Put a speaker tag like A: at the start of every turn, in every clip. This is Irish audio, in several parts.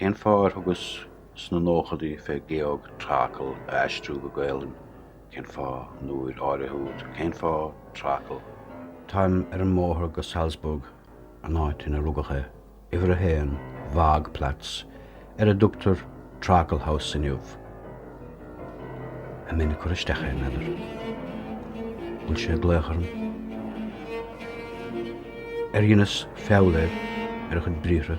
A: Cén fáth ar thugas sna nóchaidí fé Georg Trakl a aistriú go Gaelainn? Cén fáth an uair áirithe úd? Cén fáth Trakl? Táim ar an mbóthar go Salzburg an áit ina rugadh é, uimhir a haon Waagplatz, ar a dtugtar Traklhaus inniu, an mbeinn ag cur isteach air, b'fhéidir. Fuil sé ag glaoch orm? Ar dheineas feall air, ar a chuid briathra.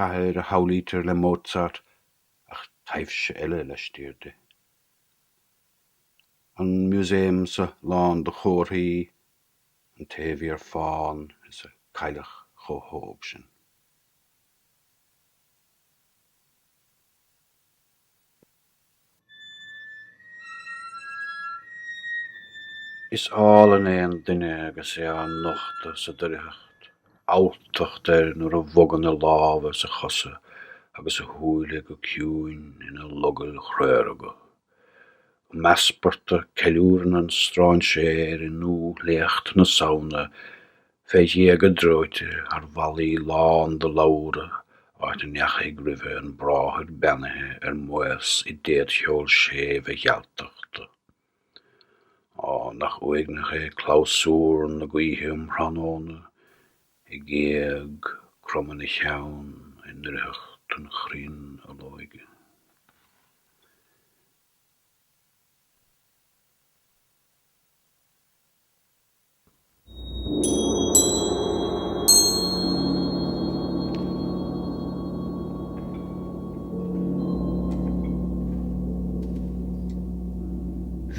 A: cathair a shamhlaítear le Mozart ach taibhse eile laistiar di. An musaemsa lán de chomharthaí, an té a bhí ar fán a cailleadh chomh hóg sin. Is álainn é an duine agus é á nochtadh sa doircheacht, alltacht air nuair a bhogann a lámha is a chosa agus a shúile go ciúin ina logaill chraoraga. Um easparta, ceiliúrann an stráinséir i ndúthléacht na Samhna Fé ghéaga dreoite thar bhallaí lán de lobhra, áit a ndeachaigh roimhe an bráthair beannaithe ar maos i dtéadcheol séimh a ghealtachta. Á, nach uaigneach é clabhsúr na gaoithe um thráthnóna, ag éag, cromann a cheann, i ndoircheacht an chrainn olóige.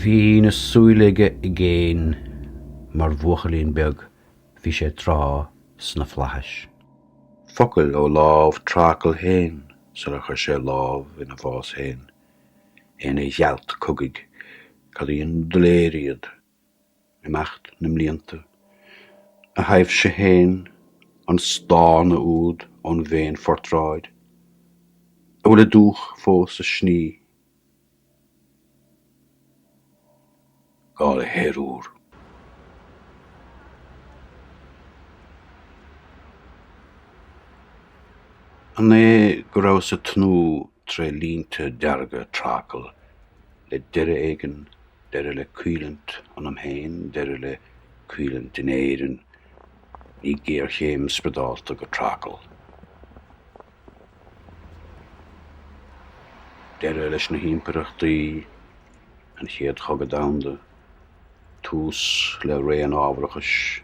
A: Bhí an tsúil aige i gcéin mar bhuachaillín beag bhí sé tráth sna Flaithis. Focail ó lámh Trakl féin sula chuir sé lámh ina bhás féin. É ina ghealt cogaidh. Cad í an ghléir iad? imeacht na mblianta, a thaibhse féin, an stánadh úd ón bhféinphortráid, a bhfuil a dúch fós ag sní, gá le haer úr. An é go rabhas ag tnúth tré línte dearga Trakl le deireadh éigin Deireadh le caoineadh ionam féin, deireadh le caoineadh in Éirinn, ní géarchéim spriodálta go Trakl. Deireadh leis na himpireachtaí, an Chéad Chogadh Domhanda, tús le ré an ábharachais.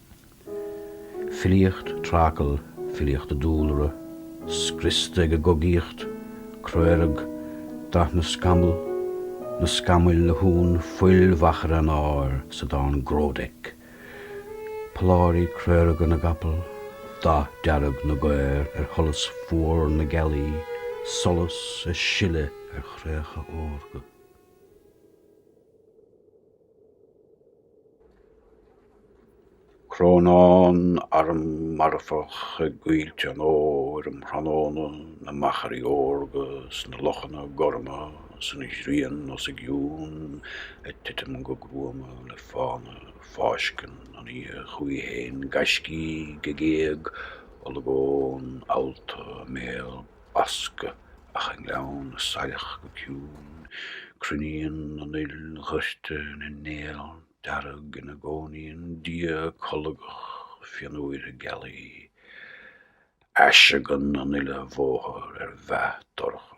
A: Filíocht Trakl, filíocht dúlra, scriosta ag an gcogaíocht, craorag, dath na scamall, na scamaill a shúnn fuil mhachaire an áir sa dán 'Grodek' polláirí craoraga na gcapall, dath dearg na gcaor ar sholas fuar na gealaí, solas ag sileadh ar chraobhacha órga. Crónán arm marfach i gcoillte an fhómhair um thráthnóna, na machairí órga is na lochanna gorma is an ghrian os a gcionn ag titim go gruama le fána. Fáisceann an oíche chuici féin gaiscígh ag éag, olagón allta a mbéal. basctha. Ach i ngleann na saileach go ciúin, cruinníonn an fhuil dhoirte ina néal dearg ina gcónaíonn Dia colgach fionnuaire gealaí. Aiseagann an uile bhóthar ar mheath dorcha.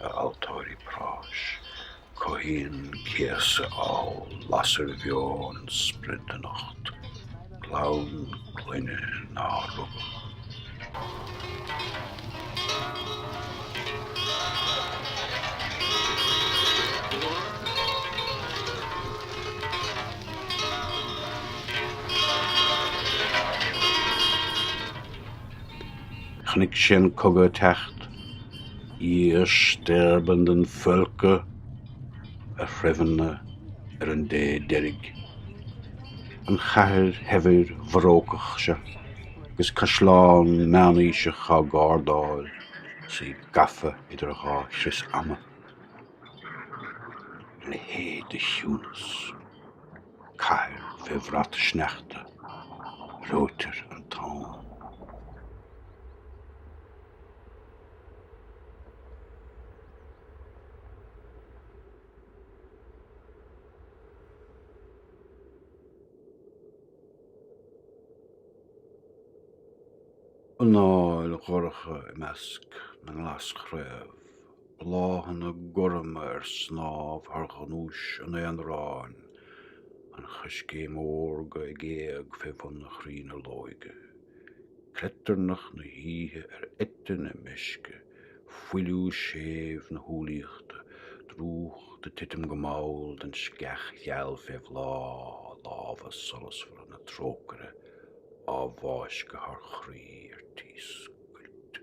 A: a altóirí práis, cothaíonn céasadh ábhal lasair bheo an sprid anocht, clann clainne nár rugadh. Chonnaic sé an cogadh ag teacht. Ihr sterbenden Völker, a threibheanna ar an dé deiridh. An chathair shaibhir bharócach seo agus caisleán meánaoiseach á gardáil is í gafa idir dhá chrios ama. A leithéid de chiúnas. cathair fé bhrat sneachta, reoitear an t-am. anáil dhorcha i measc na nglaschraobh. bláthanna gorma ar snámh thar ghnúis an aonaráin, an choiscéim órga ag éag fé bhun an chrainn olóige, cleitearnach na hoíche ar eite na meisce, fuiliú séimh na humhlaíochta, drúcht ag titim go mall den sceach gheal fé bhláth, lámha solasmhara na trócaire á bhfáisceadh thar chroí ar tí scoilt.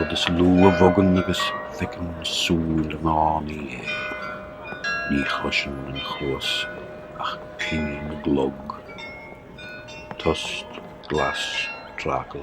A: rud is lú a bhogann agus feiceann súil an fhánaí é. Ní chloiseann an chluas ach cling na gclog. Tost, glas, Trakl.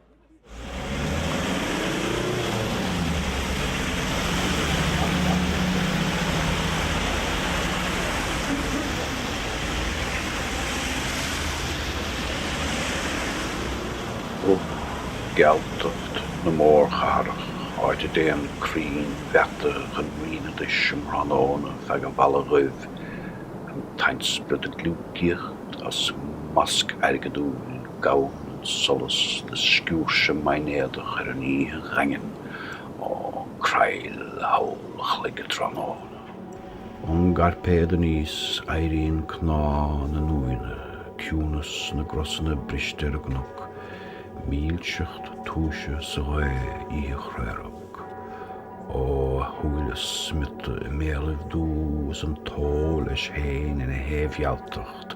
A: Ó gealtacht na mórchathrach áit a dtéann crainn mheata chun righneadais um thráthnóna feadh an bhalla dhuibh, an t-ainspiorad ag gliúcaíocht as masc airgeadúil. Gabhann an solas le sciúirse maighnéadach ar an oíche dhaingean, ó creill tholl an chloig tráthnóna. Ón gcairpéad aníos éiríonn cnámha na n-uaigheanna, ciúnas na gcrosanna briste ar an gcnoc, mílseacht túise sa ghaoth oíche chraorag. Ó, a shúile smiota i mbéalaibh dubha is an t-ó leis féin ina shéimh-ghealtacht,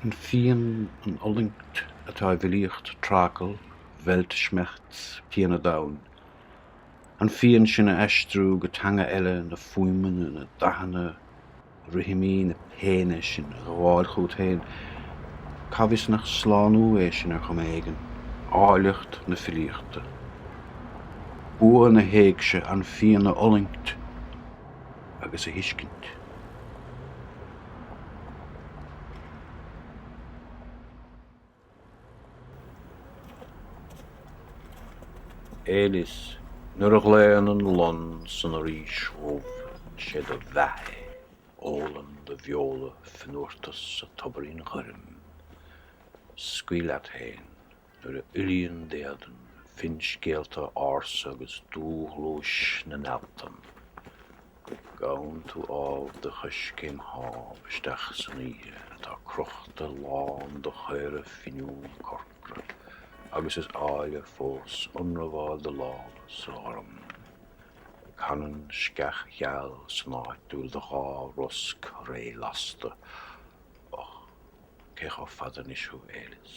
A: An phian, an fhulaingt atá i bhfilíocht Trakl, Weltschmerz, pian an domhain. An phian sin a aistriú go teanga eile, na fuaimeanna, na dathanna, rithimí na péine sin a ghabháil chugat féin, cá bhfios nach slánú é sin ar chuma éigin? Áilleacht na filíochta. Bua na héigse, an phian a fhulaingt. agus a thuiscint. Elis, Nuair a ghlaonn an lon san fhoraois dhubh sé do mheath é, ólann do bheola fionnuartas an tobairín ghoirm. Scaoil leat fhéin Nuair a fhuilíonn d'éadan finscéalta ársa agus dúghluais na n-ealtan, gabhann tú ámh de choiscéim thámh isteach san oíche atá crochta lán de chaora finiúna corcra agus is áille fós ionramháil do lámha sa ghorm. Canann sceach gheal san áit a bhfuil do dhá rosc ré-lasta, Och, cé chomh fada anois thú, a Elis?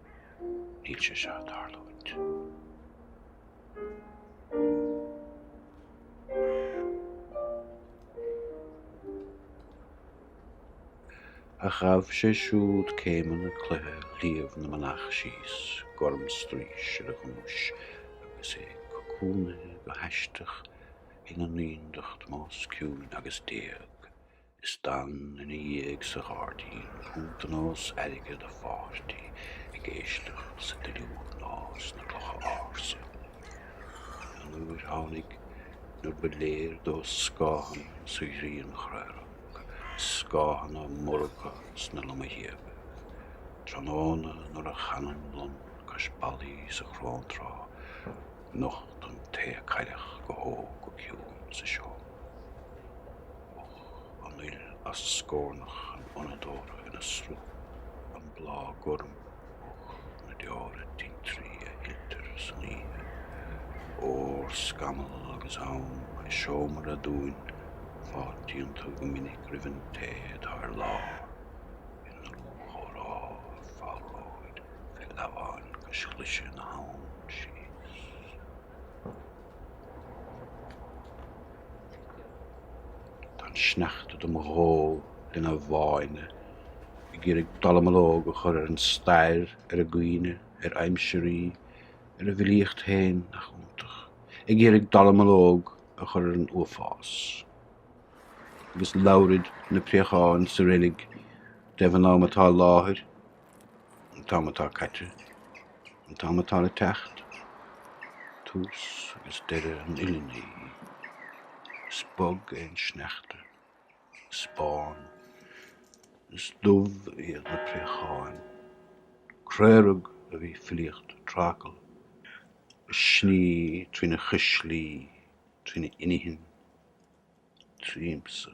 A: Níl sé seo ag tarlúint. Ach ghabh sé siúd céimeanna cloiche Shliabh na Manach síos gormstraois ar a ghnúis agus é cocúnaithe go haisteach ina naíondacht níos ciúine agus d'éag Is d'fhan ina dhiaidh sa ghairdín cuntanós airgid a pháirtí ag éisteacht sa duilliúr nó sna clocha ársa. An uair tháinig nuair ba léir dó scáthanna sa ghrian chraorag, scáthanna morgtha sna lomghéaga. Tráthnóna nuair a chan an lon cois ballaí sa chróntráth nocht an té a cailleadh go hóg go ciúin sa seomra. Ó an fhuil as scornach an fhonnadóra ina sruth, an bláth gorm och na deora tintrí a shiltear san oíche. Órscamall agus am i seomra aduain, fáiltíonn tú go minic roimh an té atá ar lár, i ndlúthchomhrá ag fálróid fé leamháin cois glaise na habhann síos. Tá an sneachta do mo dhó lena bháine, Ag iarraidh dallamullóg a chur ar an stair, Ar an gcuimhne, ar aimsirí, Ar an bhfilíocht féin, nach iontach, Ag iarraidh dallamullóg a chur ar an uafás. Agus labhraid na préacháin sa reilig I dtaobh an ama atá i láthair, an t-am atá caite, an t-am atá le teacht, tús agus deireadh an uile ní. Is bog é an sneachta, is bán, is dubh iad na préacháin. Craorag a bhí filíocht Trakl a shnigh trína chuislí, trína inchinn, tríomsa.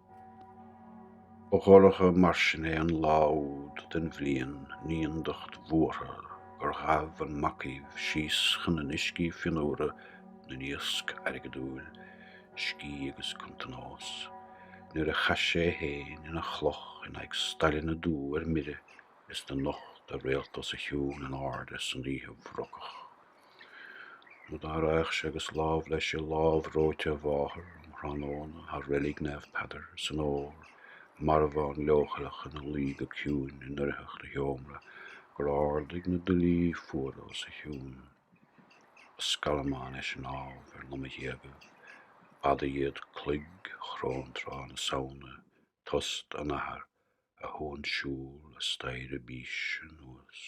A: dhorcha mar sin é an lá úd den bhliain naíondacht bhuartha gur ghabh an macaomh síos chun na n-uiscí fionnuara na n-iasc airgeadúil scíth agus cuntanós nuair a chaith sé fhéin ina chloch in aghaidh staileanna dubha ar mire is do nocht a réalta os a chionn in airde san oíche bhrocach. Nó dá raghadh sé agus lámh leis i lámh reoite a mháthar um thráthnóna thar reilig Naomh Peadar san fhómhar, marbhán leochaileach ina luí go ciúin i ndoircheacht a sheomra gur ardaigh na duillí fuara os a chionn. Ba scallamán é sin ámh ar lomaghéaga b'fhada iad cloig chróntrá na Samhna tost an athar a shuansiúl an staighre bíse anuas.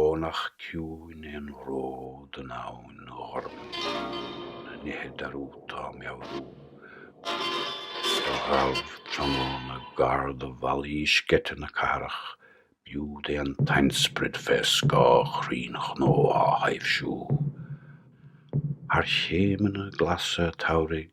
A: Ó nach ciúin é an ród an abhainn ghorm na nithe dearúdta á meabhrú do ghabh tráthnóna gar do bhallaí sceite na cathrach b'iúd é an t-ainsprid fé scáth chrainn chnó á thaibhsiú thar chéimeanna glasa an tsamhraidh.